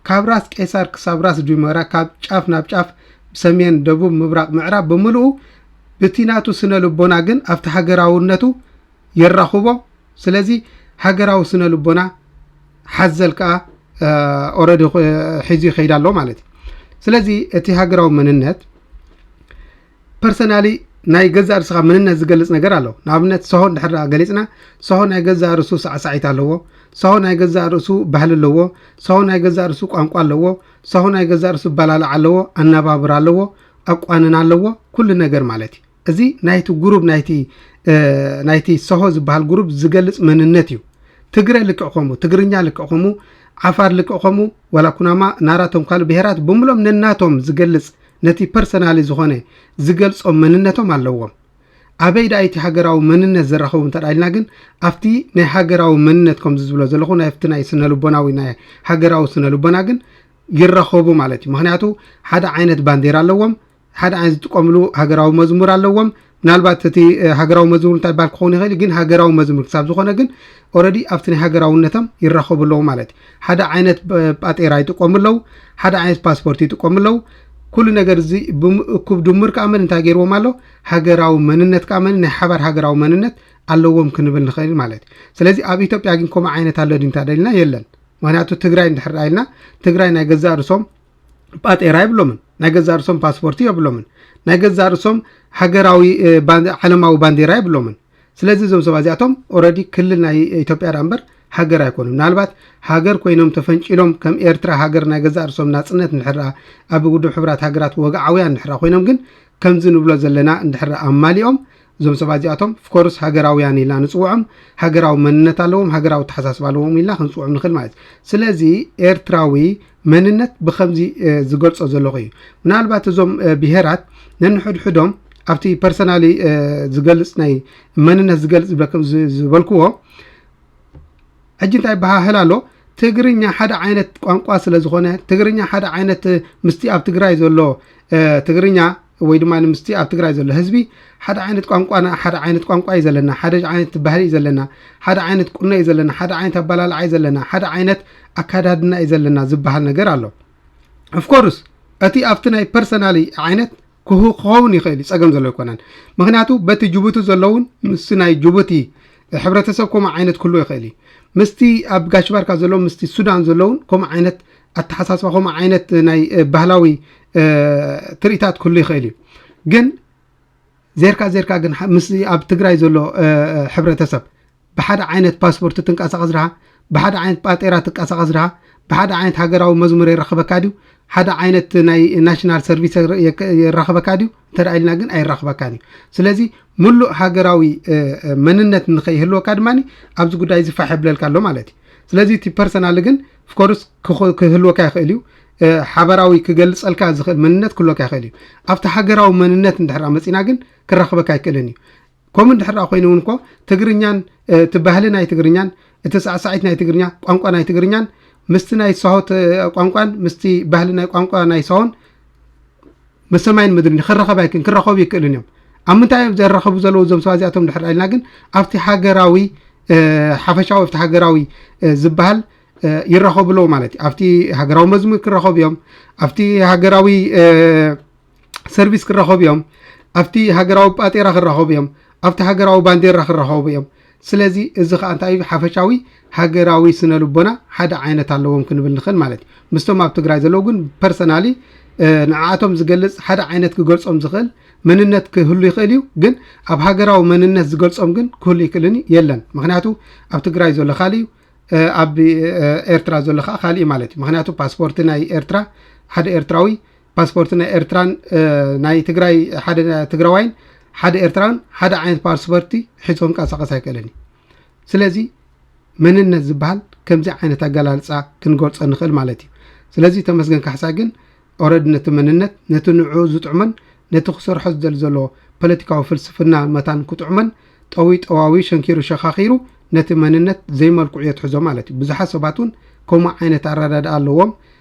ካብ ራስ ቄሳር ክሳብ ራስ ጁመራ ካብ ጫፍ ናብ ጫፍ ሰሜን ደቡብ ምብራቕ ምዕራብ ብምልኡ ብቲ ናቱ ስነ-ልቦና ግን ኣብቲ ሃገራውነቱ የራኹቦ ስለዚ ሃገራዊ ስነ ልቦና ሓዘል ከዓ ኦረዲ ሒዙ ይኸይድ ኣሎ ማለት እዩ ስለዚ እቲ ሃገራዊ መንነት ፐርሰናሊ ናይ ገዛ ርስኻ መንነት ዝገልፅ ነገር ኣሎ ንኣብነት ሰሆ እንድሕር ገሊፅና ሰሆ ናይ ገዛ ርእሱ ሳዕሳዒት ኣለዎ ሰሆ ናይ ገዛ ርእሱ ባህሊ ኣለዎ ሰሆ ናይ ገዛ ርእሱ ቋንቋ ኣለዎ ሰሆ ናይ ገዛ ርእሱ ባላላዕ ኣለዎ ኣነባብር ኣለዎ ኣቋንን ኣለዎ ኩሉ ነገር ማለት እዩ እዚ ናይቲ ጉሩብ ናይቲ ሰሆ ዝበሃል ጉሩብ ዝገልፅ መንነት እዩ ትግረ ልክዕ ከምኡ ትግርኛ ልክዕ ከምኡ ዓፋር ልክዕ ከምኡ ዋላ ኩናማ ናራቶም ካልእ ብሄራት ብምሎም ነናቶም ዝገልፅ ነቲ ፐርሰናሊ ዝኾነ ዝገልፆም መንነቶም ኣለዎም ኣበይ ደኣ እቲ ሃገራዊ መንነት ዘራኸቡ እንተ ኢልና ግን ኣብቲ ናይ ሃገራዊ መንነት ከምዚ ዝብሎ ዘለኹ ናብቲ ናይ ስነልቦናዊ ናይ ሃገራዊ ስነልቦና ግን ይራኸቡ ማለት እዩ ምክንያቱ ሓደ ዓይነት ባንዴራ ኣለዎም ሓደ ዓይነት ዝጥቀምሉ ሃገራዊ መዝሙር ኣለዎም ምናልባት እቲ ሃገራዊ መዝሙር እንታይ ባል ክኸውን ይኽእል ግን ሃገራዊ መዝሙር ክሳብ ዝኾነ ግን ኦረዲ ኣብቲ ናይ ሃገራውነቶም ይራኸቡ ኣለዉ ማለት እዩ ሓደ ዓይነት ጳጤራ ይጥቀሙ ኣለዉ ሓደ ዓይነት ፓስፖርት ይጥቀሙ ኣለዉ ኩሉ ነገር እዚ ብምእኩብ ድምር ከዓ መን እንታይ ገይርዎም ኣሎ ሃገራዊ መንነት ከዓ መን ናይ ሓባር ሃገራዊ መንነት ኣለዎም ክንብል ንኽእል ማለት እዩ ስለዚ ኣብ ኢትዮጵያ ግን ከምኡ ዓይነት ኣሎ ድንታ ደልና የለን ምክንያቱ ትግራይ እንድሕር ኢልና ትግራይ ናይ ገዛእ ርሶም ጳጤራ የብሎምን ናይ ገዛእ ርእሶም ፓስፖርቲ የብሎምን ናይ ገዛእ ርእሶም ሃገራዊ ዓለማዊ ባንዴራ የብሎምን ስለዚ እዞም ሰባ እዚኣቶም ኦረዲ ክልል ናይ ኢትዮጵያ ዳ እምበር ሃገር ኣይኮኑ ምናልባት ሃገር ኮይኖም ተፈንጭሎም ከም ኤርትራ ሃገር ናይ ገዛእ ርእሶም ናፅነት ንድሕራ ኣብ ውድብ ሕብራት ሃገራት ወግዓውያን ንድሕራ ኮይኖም ግን ከምዚ ንብሎ ዘለና እንድሕራ ኣማሊኦም እዞም ሰባት እዚኣቶም ፍኮርስ ሃገራውያን ኢልና ንጽውዖም ሃገራዊ መንነት ኣለዎም ሃገራዊ ኣተሓሳስባ ኣለዎም ኢልና ክንጽውዖም ንኽእል ማለት እዩ ስለዚ ኤርትራዊ መንነት ብከምዚ ዝገልጾ ዘለኹ እዩ ምናልባት እዞም ብሄራት ነንሕድሕዶም ኣብቲ ፐርሰናሊ ዝገልጽ ናይ መንነት ዝገልጽ ዝበልክዎ ሕጂ እንታይ ይበሃህል ኣሎ ትግርኛ ሓደ ዓይነት ቋንቋ ስለ ዝኾነ ትግርኛ ሓደ ዓይነት ምስቲ ኣብ ትግራይ ዘሎ ትግርኛ ወይ ድማ ምስቲ ኣብ ትግራይ ዘሎ ህዝቢ ሓደ ዓይነት ቋንቋና ሓደ ዓይነት ቋንቋ እዩ ዘለና ሓደ ዓይነት ባህሊ እዩ ዘለና ሓደ ዓይነት ቁኖ እዩ ዘለና ሓደ ዓይነት ኣበላልዓ እዩ ዘለና ሓደ ዓይነት ኣካዳድና እዩ ዘለና ዝበሃል ነገር ኣሎ ኦፍኮርስ እቲ ኣብቲ ናይ ፐርሰናሊ ዓይነት ክሁ ክኸውን ይኽእል እዩ ጸገም ዘሎ ኣይኮነን ምክንያቱ በቲ ጅቡቲ ዘለውን ምስ ናይ ጅቡቲ ሕብረተሰብ ከምኡ ዓይነት ክህልዎ ይኽእል እዩ ምስቲ ኣብ ጋሽ ባርካ ዘለዉ ምስቲ ሱዳን ዘለውን ከምኡ ዓይነት ኣተሓሳስባ ከምኡ ዓይነት ናይ እ፣ ባህላዊ እ፣ ትርኢታት ክህሉ ይኽእል እዩ ግን ዜርካ ዜርካ ግን ሐ- ምስ ኣብ ትግራይ ዘሎ እ፣ እ፣ ሕብረተሰብ ብሓደ ዓይነት ፓስፖርት ትንቃሳቐስ ድኻ? ብሓደ ዓይነት ጳጤራ ትቃሳቐስ ድኻ? ብሓደ ዓይነት ሃገራዊ መዝሙር የራኽበካ ድዩ? ሓደ ዓይነት ናይ ናሽናል ሰርቪስ የራኽበካ ድዩ? እንተ ኢልና ግን ኣይራኽበካን እዩ። ስለዚ ምሉእ ሃገራዊ መንነት ንኸይህልወካ ድማ ኣብዚ ጉዳይ እዚ ፋሕ የብለልካ ኣሎ ማለት እዩ። ስለዚ እቲ ፐርሰናል ግን ፍኮርስ ክህልወካ ይኽእል እዩ ሓበራዊ ክገልጸልካ ዝኽእል መንነት ክህልወካ ይኽእል እዩ ኣብቲ ሃገራዊ መንነት እንድሕር መጺና ግን ክራኽበካ ኣይክእልን እዩ ከምኡ እንድሕር ኮይኑ እውን እኮ ትግርኛን እቲ ባህሊ ናይ ትግርኛን እቲ ሳዕሳዒት ናይ ትግርኛ ቋንቋ ናይ ትግርኛን ምስቲ ናይ ሳሆት ቋንቋን ምስቲ ባህሊ ናይ ቋንቋ ናይ ሳሆን ምስ ሰማይን ምድርን ክረኸብ ኣይክን ክረኸቡ ይክእልን እዮም ኣብ ምንታይ እዮም ዘራኸቡ ዘለዉ እዞም ሰባ እዚኣቶም ድሕር ኢልና ግን ኣብቲ ሃገራዊ ሓፈሻዊ ኣብቲ ሃገራዊ ዝበሃል ይራኸቡ ኣለዉ ማለት እዩ ኣብቲ ሃገራዊ መዝሙር ክራኸቡ እዮም ኣብቲ ሃገራዊ ሰርቪስ ክራኸቡ እዮም ኣብቲ ሃገራዊ ጳጤራ ክራኸቡ እዮም ኣብቲ ሃገራዊ ባንዴራ ክራኸቡ እዮም ስለዚ እዚ ከዓ እንታይ እዩ ሓፈሻዊ ሃገራዊ ስነ ልቦና ሓደ ዓይነት ኣለዎም ክንብል ንኽእል ማለት እዩ ምስቶም ኣብ ትግራይ ዘለዉ ግን ፐርሰናሊ ንዓኣቶም ዝገልፅ ሓደ ዓይነት ክገልፆም ዝኽእል መንነት ክህሉ ይኽእል እዩ ግን ኣብ ሃገራዊ መንነት ዝገልፆም ግን ክህሉ ይክእልን የለን ምክንያቱ ኣብ ትግራይ ዘሎ ካልእ እዩ ኣብ ኤርትራ ዘሎ ከዓ ካልእ ማለት እዩ ምክንያቱ ፓስፖርቲ ናይ ኤርትራ ሓደ ኤርትራዊ ፓስፖርት ናይ ኤርትራን ናይ ትግራይ ሓደ ትግራዋይን ሓደ ኤርትራን ሓደ ዓይነት ፓስፖርቲ ሒዞ ክንቀሳቀስ ኣይክእልን እዩ ስለዚ መንነት ዝበሃል ከምዚ ዓይነት ኣገላልፃ ክንገልፆ ንኽእል ማለት እዩ ስለዚ ተመስገን ካሕሳ ግን ኦረድ ነቲ መንነት ነቲ ንዑ ዝጥዕመን ነቲ ክሰርሖ ዝደል ዘሎ ፖለቲካዊ ፍልስፍና መታን ክጥዕመን ጠዊ ጠዋዊ ሸንኪሩ ሸኻኺሩ ነቲ መንነት ዘይመልክዑ የትሕዞ ማለት እዩ ብዙሓት ሰባት እውን ከምኡ ዓይነት ኣረዳድኣ ኣለዎም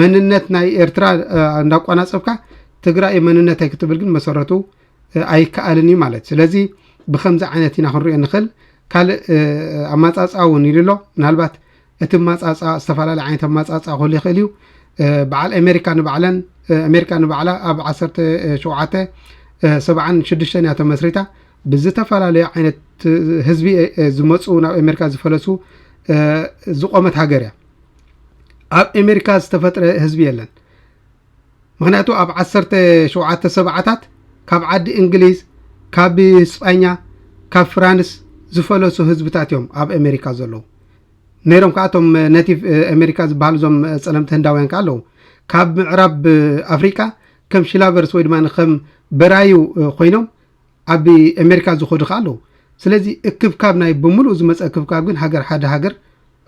መንነት ናይ ኤርትራ እንዳቋናጸብካ ትግራይ መንነተይ ክትብል ግን መሰረቱ ኣይከኣልን እዩ ማለት ስለዚ ብከምዚ ዓይነት ኢና ክንሪኦ ንኽእል ካልእ ኣማፃፃ እውን ኢሉ ኣሎ ምናልባት እቲ ማፃፃ ዝተፈላለዩ ዓይነት ኣማፃፃ ክህሉ ይኽእል እዩ በዓል ኣሜሪካ ንባዕለን ኣሜሪካ ንባዕላ ኣብ 17 ሰብዓን ሽዱሽተን እያ ተመስሪታ ብዝተፈላለዩ ዓይነት ህዝቢ ዝመፁ ናብ ኣሜሪካ ዝፈለሱ ዝቆመት ሃገር እያ ኣብ ኤሜሪካ ዝተፈጥረ ህዝቢ የለን ምክንያቱ ኣብ ዓሰርተ ሸውዓተ ሰብዓታት ካብ ዓዲ እንግሊዝ ካብ ስጳኛ ካብ ፍራንስ ዝፈለሱ ህዝብታት እዮም ኣብ ኣሜሪካ ዘለዉ ነይሮም ከዓ እቶም ነቲቭ ኣሜሪካ ዝበሃሉ እዞም ፀለምቲ ህንዳውያን ከዓ ኣለዉ ካብ ምዕራብ ኣፍሪቃ ከም ሽላቨርስ ወይ ድማ ከም በራዩ ኮይኖም ኣብ ኤሜሪካ ዝኸዱ ከኣ ኣለዉ። ስለዚ እክብካብ ናይ ብምሉኡ ዝመጸ እክብካብ ግን ሃገር ሓደ ሃገር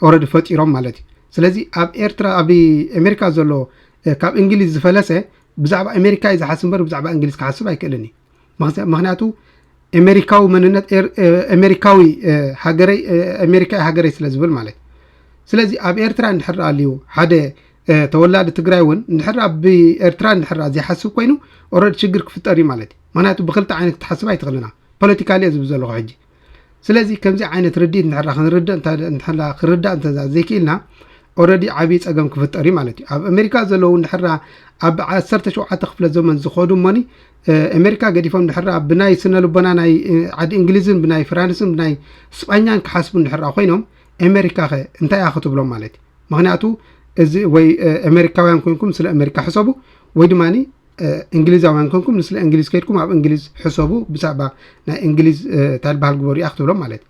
ኦረዲ ፈጢሮም ማለት እዩ። ስለዚ ኣብ ኤርትራ ኣብ ኤሜሪካ ዘሎ ካብ እንግሊዝ ዝፈለሰ ብዛዕባ ኤሜሪካ እዩ ዝሓስብ እምበር ብዛዕባ እንግሊዝ ክሓስብ ኣይክእልን እዩ። ምክንያቱ ኤሜሪካዊ መንነት ኤሜሪካዊ ሃገረይ ኤሜሪካ ሃገረይ ስለ ዝብል ማለት ስለዚ ኣብ ኤርትራ እንድሕር ኣልዩ ሓደ ተወላዲ ትግራይ እውን እንድሕር ኣብ ኤርትራ እንድሕር ዘይሓስብ ኮይኑ ኦረድ ሽግር ክፍጠር እዩ ማለት እዩ ምክንያቱ ብክልተ ዓይነት ክትሓስብ ኣይትኽእልን ኢና ፖለቲካሊ እየ ዝብል ዘለኹ ሕጂ ስለዚ ከምዚ ዓይነት ርድኢት ንሕራ ክንርድእ ንሕራ ክርዳእ እንተ ዘይክኢልና ኦረዲ ዓብዪ ፀገም ክፍጠር እዩ ማለት እዩ ኣብ ኣሜሪካ ዘለዉ ንሕራ ኣብ ዓሰርተ ሸውዓተ ክፍለ ዘመን ዝኸዱ እሞኒ ኣሜሪካ ገዲፎም ንሕራ ብናይ ስነ ልቦና ናይ ዓዲ እንግሊዝን ብናይ ፍራንስን ብናይ ስጳኛን ክሓስቡ ንሕራ ኮይኖም ኣሜሪካ ኸ እንታይ እያ ክትብሎም ማለት እዩ ምክንያቱ እዚ ወይ ኣሜሪካውያን ኮንኩም ስለ ኣሜሪካ ሕሰቡ ወይ ድማ እንግሊዛውያን ኮንኩም ንስለ እንግሊዝ ከድኩም ኣብ እንግሊዝ ሕሰቡ ብዛዕባ ናይ እንግሊዝ እንታይ ዝበሃል ግበሩ እያ ክትብሎም ማለት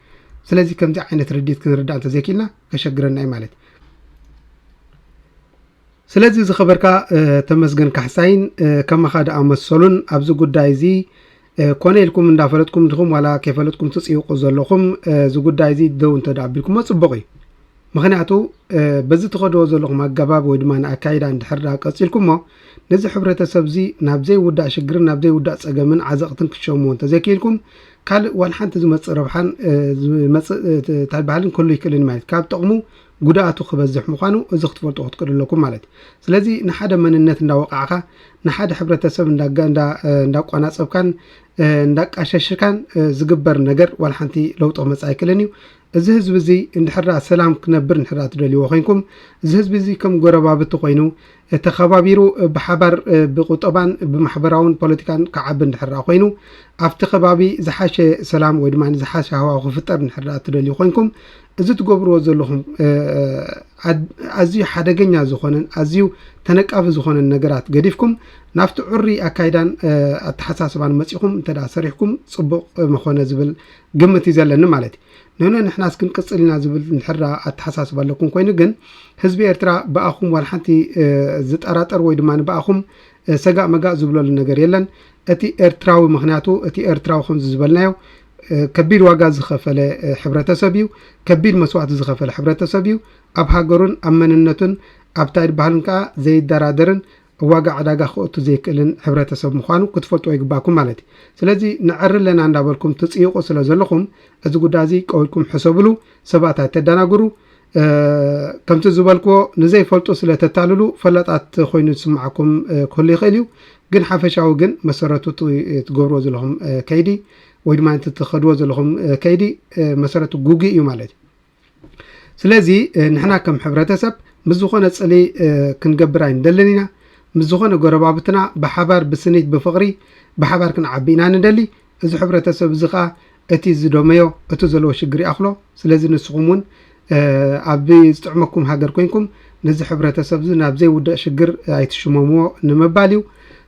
ስለዚ ከምዚ ዓይነት ርድት ክንርዳእ እንተዘይክኢልና ከሸግረና እዩ ማለት ስለዚ ዝኸበርካ ተመስገን ካሕሳይን ከማኻ ደኣ መሰሉን ኣብዚ ጉዳይ እዚ ኮነ ኢልኩም እንዳፈለጥኩም ድኹም ዋላ ከይፈለጥኩም ትፅይቑ ዘለኹም እዚ ጉዳይ እዚ ደው እንተ ኣቢልኩሞ ፅቡቕ እዩ ምክንያቱ በዚ ትኸድዎ ዘለኹም ኣገባብ ወይ ድማ ንኣካይዳ እንድሕር ዳ ቀፂልኩሞ ነዚ ሕብረተሰብ እዚ ናብ ዘይውዳእ ሽግርን ናብ ዘይውዳእ ፀገምን ዓዘቕትን ክትሸምዎ እንተዘይክኢልኩም ካልእ ዋላ ሓንቲ ዝመፅእ ረብሓን ዝመፅእ እንታይ በሃልን ክህሉ ይክእልን ማለት ካብ ጥቕሙ ጉድኣቱ ክበዝሕ ምዃኑ እዚ ክትፈልጡ ክትክእሉ ኣለኩም ማለት እዩ። ስለዚ ንሓደ መንነት እንዳወቃዕካ ንሓደ ሕብረተሰብ እንዳቋናፀብካን እንዳቃሸሽካን ዝግበር ነገር ዋላ ሓንቲ ለውጢ ክመፅእ ኣይክእልን እዩ። እዚ ህዝቢ እዚ እንድሕር ደኣ ሰላም ክነብር እንድሕር ደኣ ትደልይዎ ኮይንኩም እዚ ህዝቢ እዚ ከም ጎረባብቲ ኮይኑ ተኸባቢሩ ብሓባር ብቁጠባን ብማሕበራውን ፖለቲካን ክዓቢ እንድሕር ደኣ ኮይኑ ኣብቲ ከባቢ ዝሓሸ ሰላም ወይ ድማ ዝሓሸ ሃዋሁ ክፍጠር እንድሕር ደኣ እትደልዩ ኮይንኩም እዚ ትገብርዎ ዘለኹም ኣዝዩ ሓደገኛ ዝኾነን ኣዝዩ ተነቃፊ ዝኾነን ነገራት ገዲፍኩም ናብቲ ዕሩይ ኣካይዳን ኣተሓሳስባን መጺኹም እንተ ደኣ ሰሪሕኩም ጽቡቕ ምኾነ ዝብል ግምት እዩ ዘለኒ ማለት እዩ። ኖኖ ንሕናስ ክንቅጽል ኢና ዝብል እንድሕር ደኣ ኣተሓሳስባ ኣለኩም ኮይኑ ግን ህዝቢ ኤርትራ ብኣኹም ዋላ ሓንቲ ዝጠራጠር ወይ ድማ ብኣኹም ሰጋእ መጋእ ዝብለሉ ነገር የለን እቲ ኤርትራዊ ምክንያቱ እቲ ኤርትራዊ ከምዚ ዝበልናዮ ከቢድ ዋጋ ዝኸፈለ ሕብረተሰብ እዩ ከቢድ መስዋእቲ ዝኸፈለ ሕብረተሰብ እዩ ኣብ ሃገሩን ኣብ መንነቱን ኣብታይ ድበሃልን ከዓ ዘይደራደርን ኣብ ዋጋ ዕዳጋ ክኦቱ ዘይክእልን ሕብረተሰብ ምዃኑ ክትፈልጥዎ ይግባኩም ማለት እዩ። ስለዚ ነዐሪ ኣለና እንዳበልኩም ትጽይቑ ስለ ዘለኹም እዚ ጉዳይ እዚ ቀውልኩም ሕሰብሉ ሰባት ኣይተዳናግሩ ከምቲ ዝበልክዎ ንዘይፈልጡ ስለ ተታልሉ ፈላጣት ኮይኑ ዝስምዓኩም ክህሉ ይኽእል እዩ ግን ሓፈሻዊ ግን መሰረቱ ትገብርዎ ዘለኹም ከይዲ ወይ ድማ እቲ ትኸድዎ ዘለኹም ከይዲ መሰረቱ ጉግይ እዩ ማለት እዩ። ስለዚ ንሕና ከም ሕብረተሰብ ምስ ዝኾነ ጽልኢ ክንገብር ኣይንደልን ኢና። ምስ ዝኾነ ጎረባብትና ብሓባር ብስኒት ብፍቕሪ ብሓባር ክንዓቢ ኢና ንደሊ። እዚ ሕብረተሰብ እዚ ከኣ እቲ ዝደመዮ እቲ ዘለዎ ሽግር ይኣኽሎ። ስለዚ ንስኹም እውን ኣብ ዝጥዕመኩም ሃገር ኮይንኩም ነዚ ሕብረተሰብ እዚ ናብ ዘይውዳእ ሽግር ኣይትሽመምዎ ንምባል እዩ።